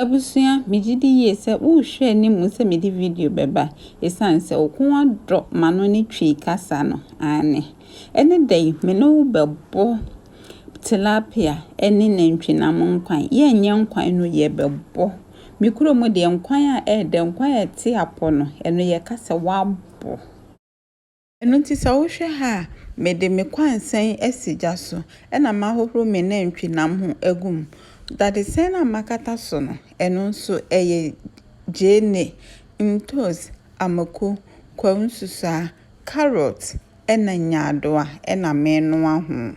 Abusua, megye di yie sɛ worehwɛ anim sɛ mede video bɛba, ɛsiane sɛ wo koma dɔ m'ano ne Twi kasa no, aane. Ɛne da yi, me ne wo bɛbɔ tilapia ne nantwinam nkwan. Yɛnyɛ nkwan no, yɛbɛbɔ. Me kuro mu deɛ, nkwan a ɛɛdɛ, nkwan a ɛte apɔ no, ɛno yɛka sɛ wabɔ. Ɛno nti sɛ wohwɛ ha a, mede me kwansɛn asi gya so, ɛnna mahohoro me nantwinam ho agu mu. Dadesɛn a makata so no, ɛno nso, ɛyɛ gyeene, ntoosi, amako, kwawu nsusuaa, karɔt, ɛnna nyaadowa na menoa ho.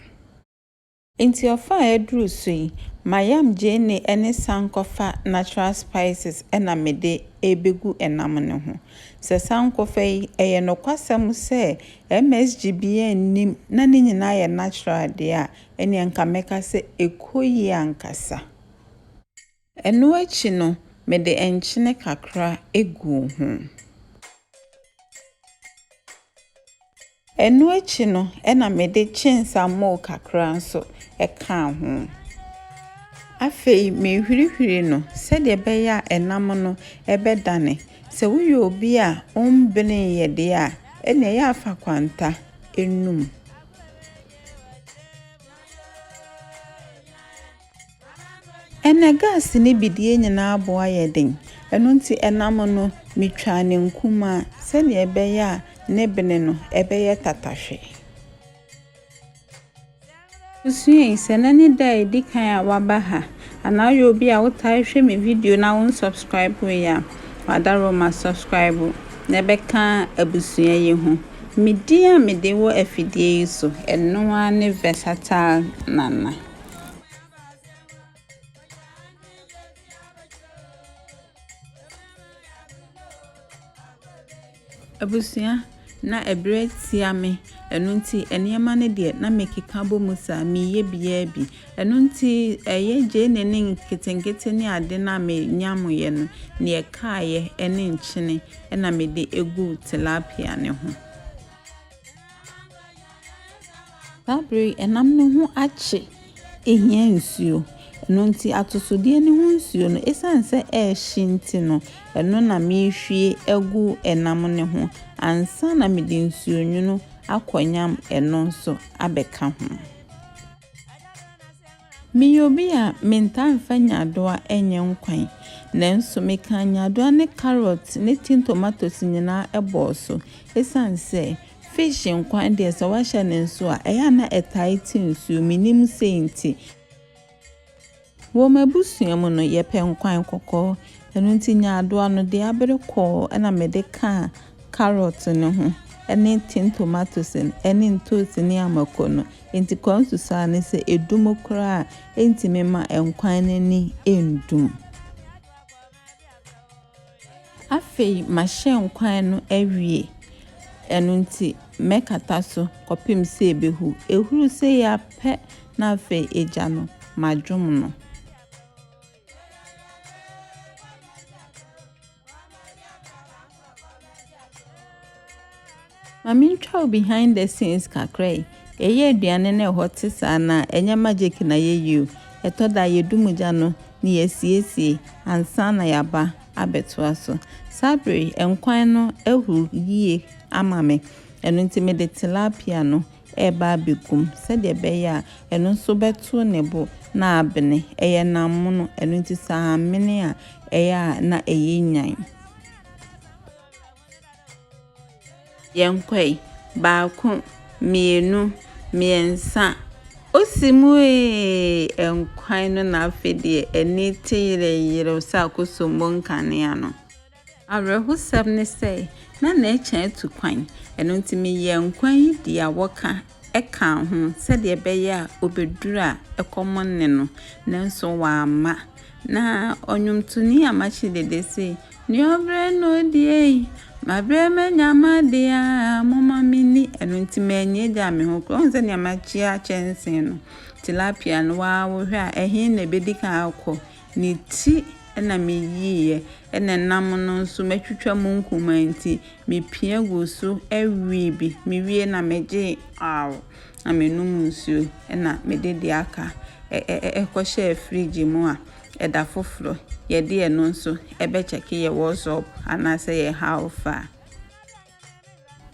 Nti ɔfa a ɛduru so yi, m'ayam gyeene ɛne sankɔfa natural spices na mede rebɛgu nam no ho. Sɛ sankɔfa yi, ɛyɛ nokwasɛm sɛ MSG biara nnim na ne nyinaa yɛ natural deɛ a, ɛnneɛ anka mɛka sɛ ɛkɔ yie ankasa. Ɛno akyi no, mede nkyene kakra guu ho. Ɛno akyi no, ɛnna mede kyensamoo kakra nso kaa ho. Afei mehwirihwiri no sɛdeɛ ɛbɛyɛ a ɛnam no bɛdane. Sɛ woyɛ obi a wombeneeɛ deɛ a, ɛnna ɛyɛ a fa kwanta nom. Ɛnna gas no bi deɛ nyinaa bo ayɛ den, ɛno nti ɛnam no metwaa no nkumaa sɛdeɛ ɛbɛyɛ a ne bene no ɛbɛyɛ tatahwe. Susuei sɛ na ne da a ɛdi kan a waba ha anaa woyɛ obi a wotae hwɛ me video na wo nsubscribe yɛ a wadaro ma subscribe na ɛbɛka abusua yi ho. Me din a mede wɔ afidie yi so ɛno ara ne Versatile Nana. Abusua na ɛberɛ tia me, ɛno nti nneɛma no deɛ na mekeka bɔ mu saa, meyɛ biara bi. Ɛno nti ɛyɛ gyeene ne nketenkete ne ade no a menyameeɛ no, deɛ ɛkaeɛ ne nkyene na mede guu tilapia no ho. Saa bere yi, nam no ho akye hia nsuo. Ɛno nti, atosodeɛ no ho nsuo no, ɛsiane sɛ ɛrehye nti no, ɛno na merehwie agu nam no ho ansa na mede nsuonwunu akɔnyam ɛno nso abɛka ho. Meyɛ obi a mentaa mfa nyaadoa nyɛ nkwan, nanso mekaa nyaadoa ne carrot ne tin tomatoes nyinaa bɔɔ so esiane sɛ fish nkwan deɛ sɛ woahyɛ no nso a ɛyɛ a na ɛtae te nsuo, mennim sei nti. Wɔ m'abusua mu no, yɛpɛ nkwan kɔkɔɔ. Ɛno nti nyaadoa no deɛ abere kɔɔ ɛna mede kaa carrot no ho ɛne tin tomatoes no ɛne ntoosi ne amako no nti kɔɔ nsusuaa ne sɛ ɛdum koraa ɛntumi ma nkwan no ani ɛndum. Afei mahyɛ nkwan no awie ɛno nti mɛkata so kɔpem sɛ ɛbɛhu. Ɛhuru sei ara pɛ na afei egya no madwom no. Ma mentwa wo behind the scenes kakra yi. Yɛyɛ aduane no ɛhɔ te saa na ɛnyɛ magic na yɛyɛ o. Ɛtɔ da yɛdu mu gya no na yɛasiesie ansa na yɛaba abɛtoa so. Saa bere nkwan no ahuru yie ama me. Ɛno nti mede tilapia no reba abɛgu mu sɛdeɛ ɛbɛyɛ a ɛno nso bɛto ne bo na abene. Ɛyɛ nam mono, ɛno nti sɛ ammene a, ɛyɛ a na ɛyɛ nyan. Yɛnkɔe, baako, mmienu, mmiɛnsa, osi mu ee! Nkwan no na afei deɛ ani te yerɛyerɛw sɛ akosombo nkanea no. Awerɛhosɛm ne sɛ, na n'akyi atu kwan, ɛno nti meyɛɛ nkwa yi di a wɔka kaa ho sɛdeɛ ɛbɛyɛ a ɔbɛduru a ɛkɔm nne no, nanso wamma. Na ɔnwomtoni Amakye Dede se, Nea ɔbrɛ na ɔdi ei, mabrɛ manya m'adeɛ a, momma menni. Ɛno nti mannya agyaa me ho koraa. Wohu sɛ nea makyia kyɛnsee no, tilapia no, waa wohwɛ a, ɛhe na ɛbɛdi kan akɔ? Ne ti na meyiiɛ, na nam no nso matwitwa mu nkumaa nti, mepia guu so wee bi. Mewiee na megyee aww, na menom nsuo na mede deɛ aka kɔhyɛɛ fridge mu a ɛda foforɔ yɛde ɛno nso bɛkyɛke yɛ WhatsApp anaasɛ yɛ how far.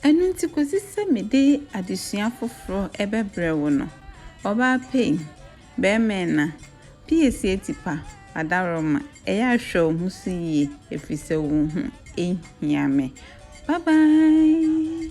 Ɛno nti kɔsi sɛ mede adesua foforɔ bɛbrɛ wo no, ɔbaa pɛi, bɛɛma ɛna, PS Atipa, adaworoma, ɛyɛ a hwɛ wo ho so yie ɛfiri sɛ wo ho hia me. Bye bye!